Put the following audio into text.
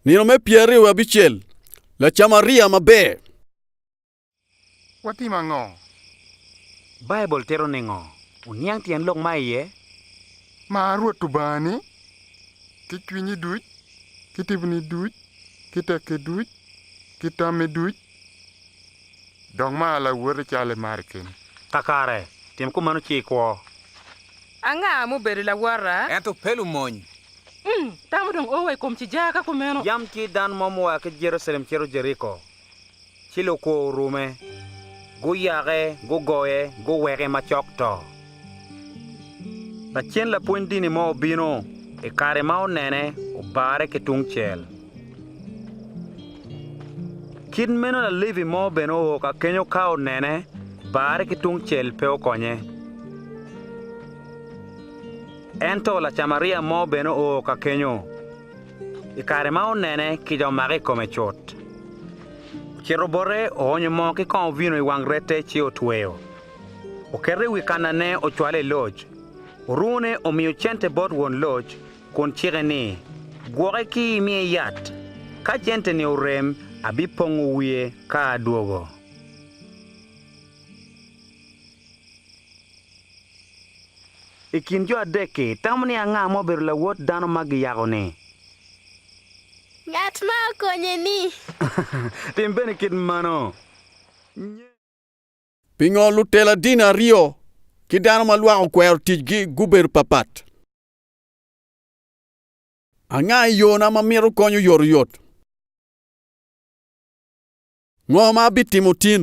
Nino me pyeraryo wiye abicel, Lacamaria maber. Watim ango? Baibul tito ningo? Wuniang tyen lok ma iye. Mar Rwot Lubangani ki cwinyi duc, ki tiponi duc, ki tekki duc, ki tammi duc, Dong mar lawote calo imari keni. Kakare, tim kumeno ci ikwo. Anga mubedo lawota? Ento pe lumony. Um, tam odong o wa i kom cijaa ka kumeno. Yam ci dano mo mua ki Jerucalem cito Jeriko, ci lukwo orume, guyake, gugoye, guweke macok to. Lacen lapwony dini mo obino i kare ma onene obarre ki tungcel. Kit meno Lalevi mo bene oo ka kenyo ka onene barre ki tungcel pe okonye. Ento Lacamaria mo bene oo ka kenyo i kare ma onene kica omake i kome cut. Ocito bote oonyo moo ki kong ovino i wang rette ci otweyo. Oketo i wi kannane ocwale i loc. Orune omiyo cente bot won loc kun cike ni, 'Gwoke ki imiye yat. Ka cente-ni orem, abipongo wiye ka adwogo. I kin jo adek-ki, itamo ni anga ma obedo lawot dano ma giyako-ni? Ngat ma okonye-ni. Tim bene kit mano. Pingo lutela dini aryo ki dano ma lwak okwero ticgi gubedo papat? Anga i yona ma mito konyo oyotoyot? Ngo ma abitimo tin?